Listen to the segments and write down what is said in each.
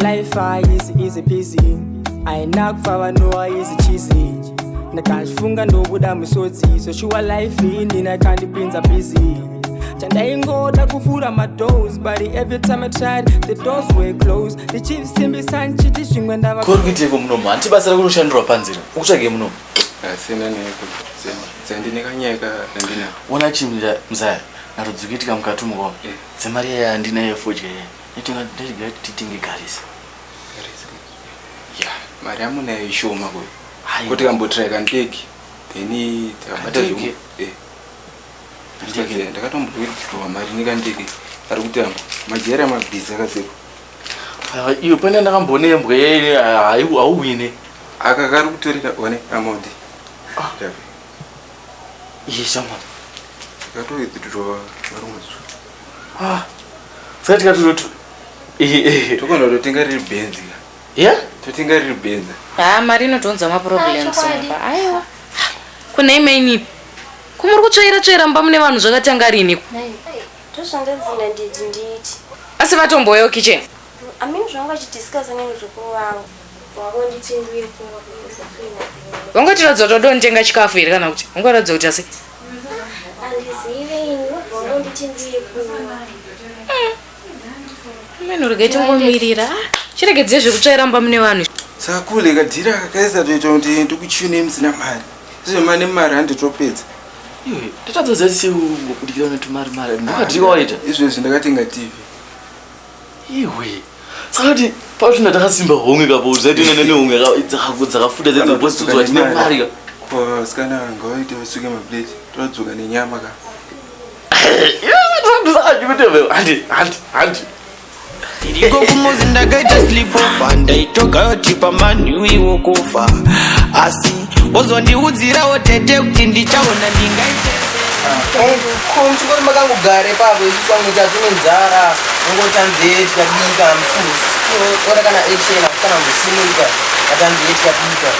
Life is easy peasy aina kufa vanowa izi chisi ndakazvifunga ndobuda musodzi soshuwa life inina ikandipinza busy chandaingoda kuvhura madoors but every time i tried the doors were closed ndichisimbisa ndichiti zvimwe ndava kuri kuiteko munomu hanti basa rakunoshandirwa panzira ukutsvage munomu asina neko dzandinekanyeka andina ona chimira mzaya narudzikuitika mukatumuka eh. dzemari yaya andina yefodya yaya titenge garisi ya mari amunayo ishoma kuyo ko tikambotirai kandege then tikabata ndakatomboitwa mari nekandege ari kuti amba majera mabhizi akaseko iyo pane ndakamboona yembwa yaine hauwine aka kari kutorera one amount ah. iye shamwana akatoitwa varumwe zuva Ah, saka tikatozotu tokonda kutotenga riri benzi ya totenga riri benzi haa ah, mari inotiunza maproblems aiwa kunei mainipi kumuri kutsvaira tsvaira mumba mune vanhu zvakatanga rini asi vatomboyewo kitchen amini zvanga chidiscusa neni zukuru vangu Wangotiratidza kuti wadonitenga chikafu here kana kuti wangoratidza kuti asi meno rega itingomirira chiregedzei zvekutsvaira mba mune vanhu sakule kadhira kakaisa toita kuti ndikuchune musina mari zvemane mari handitopedza ndatadzoza siu ngokudikira netumari mari ndakadhika waita izvezvi ndakatenga tv Iwe. Sakati pachina takasimba honge kapo uzaiti nene ne honge dzakaku dzakafuta dzedzo boss tudzo vachine mari ka. Ko skana ngo ite vasuke ma plate. Todzoka ne nyama ka. iko kumuzi ndakaita sleepover ndaitogayotipa manhuwi wokufa asi wozondiudzirawo tete kuti ndichaona ndingaite chikoro makangogare pavo isusu vamwe tatine nzara ungotanzee tikabika mfuora kana echena kana musimuika atanzee tikabika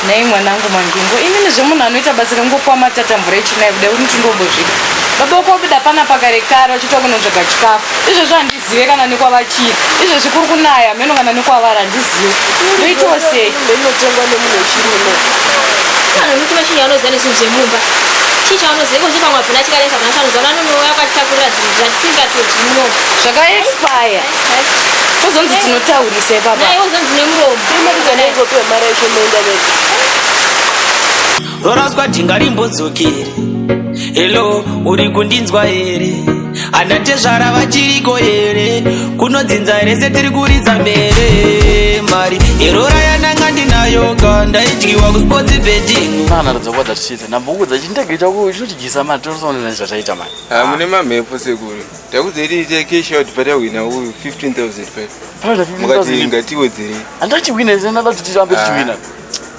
nhai mwanangu mandingo imini zvemunhu anoita basa rekungopuwa matatambura echinai kudai kuti ndindombozvida baba uko wabuda pana pakare kare wachitwa kunotsvaga chikafu izvozvo handi zive kana nekwavachiri izvezvi kuri kunaya hameno kana nekwavara handizive ndoitawo sei inotengwa nemunhu wechirimo kana muti wechinhu anoziva nezvinhu zvemumba chii chaanoziva ikozve pamwe abvina chikanesa bvina chanoziva vanonouya akatakurira zvinhu zvatisingatozi muno zvakaexpire tozonzi tinotaurisa ipapa naiwo zonzi nemuromo imaizanaikopiwa mara ichomoenda nezi Roraswa dhinga rimbodzokere Hello, uri kundinzwa here Ana tezvara vachiriko here Kunodzinza here setiri kuridza mere Mari yerora yananga ndinayo ka Ndaidyiwa kusports betting Mwana radza kwa that shit Namba uku dzachi ndege chako chinotidyisa mari Torisona nani zvataita mani ah, Mune mamhepo sekuru Takudze iri ite cash out pata wina uyu 15,000 pata Mukati ingatiwedzere Andati wina ise nada kuti tirambe tichiwina ah.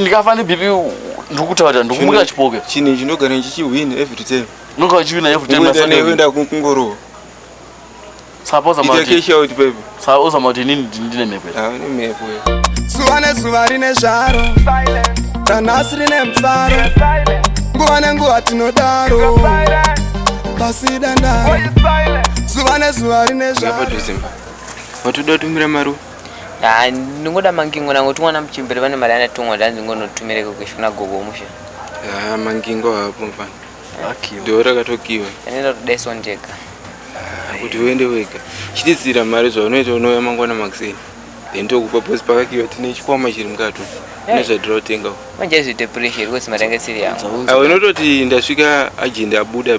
ndikafa nebp ndikutaura ndikumuka chipoke chini chinogara ndichiwina every time ndogara chiwina every time ndogara chiwina kungorowa suppose about it cash out baby suppose about it nini ndine mhepo ah ndine mhepo zuva nezuva rine zvaro ranhasi rine mufaro nguva nenguva tinodaro pasi dandaro zuva nezuva rine zvaro vatoda kutumira maruva Haa ndingoda mangingo nango tumwana muchembere pane mari anatumwa ndanzi ngonotumire kukweshi kuna gogo musha. Haa mangingo haapo mfana. Akiwa. Ndiwe rakatokiwa. Anoenda kudaiso ndega. Kuti uende wega. Chitizira mari zvaunoita unouya mangwana makuseni. Then tokupa boss pakakiwa tine chikwama chiri mukati. Hey. Nezvatira kutenga. Manje izvi depression iri kuti mari yange siri yangu. Awe unototi ndasvika agenda abuda.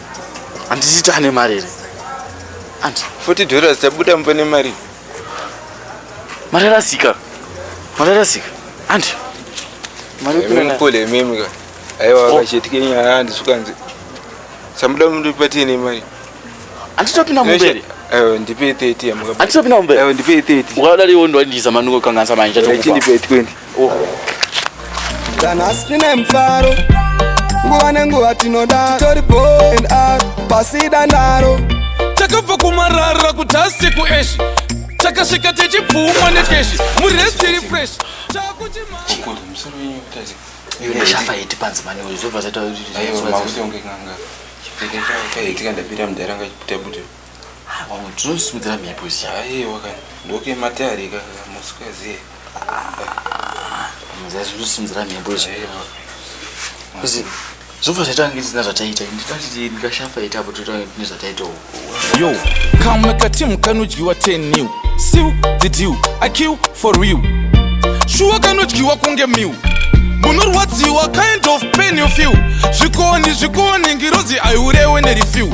handiti tane mari here andi 40 dollars tabuda mumba nemari mari rasika mari rasika andi maripolememika aiwa oh. vakachitike nyaya andisukanzi samuda mundipatiye nemari anditopinda mumberi Eh, ndipe 30 amukapa. Ati sopina umbe. Eh, ndipe 30. Ukadali wondo ndiza manuko kanganisa manje. Chindi pe 20. kana asi tine mufaro nguva nenguva tinoda tori bond a pasida ndaro takabva kumarara kuti asi kueshi takasvika tichipfuma nekeshi muresi tiri fresh chakuchiafaiti panzi mani zvobva zvaita kuti ndapira mudhara ngachibuda buda Wamwe tinosimudzira mhepo zii. Aiwa kani. Ndoke matari ka musikaziye. Muzasi tinosimudzira mhepo zii. Kuzi zvobva zvaita kunge tisina zvataita. Ndikati ndikashafa ita apo toita kunge tine zvataita. Yo, kamwe katimu kanodyiwa 10 new. Siu the deal. I kill for real. Shuwa kanodyiwa kunge meal. Munorwadziwa kind of pain you feel. Zvikoni zvikoni ngirozi aiurewe nereview.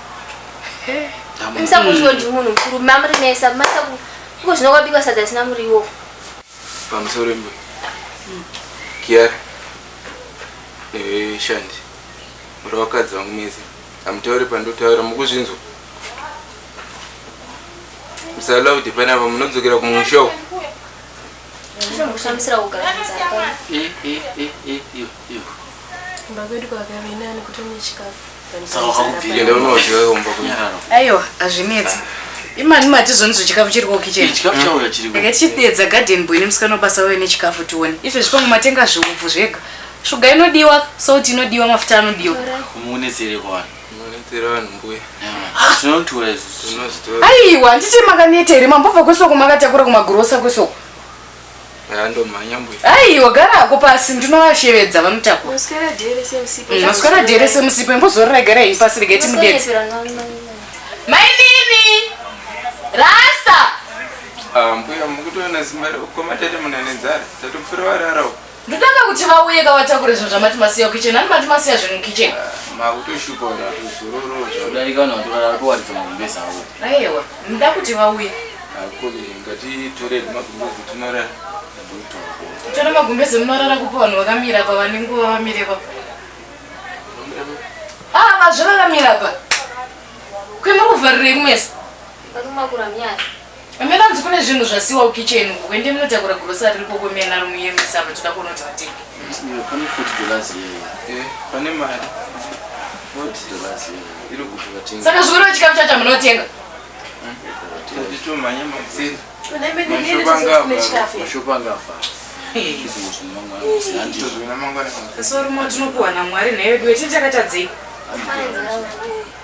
Musakuziwa ndi munhu mukuru mamuri mesa masaku iko zvino kwabikwa sadza risina muriwo. Pamusoro mbe. Kiara. Eh shandi. Muri vakadzi vangu mese. Amutaure pandotaura mukuzvinzwa. Musala kuti pana ava munodzokera kumusha uko. Zvinomushamisira kugara. Eh eh eh eh. kumba kwedu kwakave nani kuto nechikafu aiwa hazvinetsi imani matizonzwa chikafu chiri kokichenaka tichidedza garden boy nemusikana wabasa wave nechikafu tione izvo zvipango matenga zviupfu zvega shuga inodiwa salt inodiwa mafuta anodiwa aiwa handiti makaneta here mambobva kwesoko makatakura kumagrosa kwesoko ndomhanya mbuya ai wagara ako pasi ndinovashevedza vanotakura maswera dere semusipo imbozorora igara iyi pasi rega iti mudetse mainini rasta ah, mbuya mukutoona zimba rekomatete munanenzara tatopfura vararawo Ndotanga kuti vauye ka vatakure zvinhu zvamati masiya kukitchen ani mati masiya zvinhu mukitchen. Makutoshupa kuti atozororo zvodarika kana kuti varara kuwaridza magumbeza avo. Aiwa ndoda kuti vauye. Akuri ngatitore magumbezi tinorara. Tore magumbezi munorara kupa vanhu vakamira pa vane nguva vamire pa. Ah vazviraramira pa. Kwemuri kuvharirei kumesa? Vanomwa kuramyari. Ameno hanzi kune zvinhu zvasiwa kukitchen uko kwende munotakura grocery riko kwemena romuyemisa apa toda kuona kuti vatenge. Pane 40 dollars yeye. Eh, pane mari. 40 dollars yeye. Iri kuti vatenge. Saka zvikuru chikafu chacho munotenga. Tatitomhanya makuseni. Kune mene ndiri kune chikafu. Mashopa ngafa. Sorry, motinokuwa naMwari nhayo yedu yetinhu takatadzei.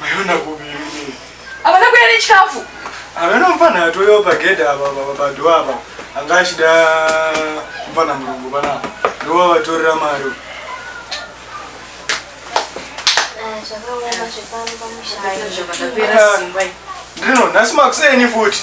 Maiona kupi imi? Havana kuya nechikafu. Havana mfana yatoyo pagedha apa apa padho apa. Anga achida mfana murungu panapa. Ndova vatorera mari. Zvakaoma zvepano pamusha. Ndino nhasi makuseni futi.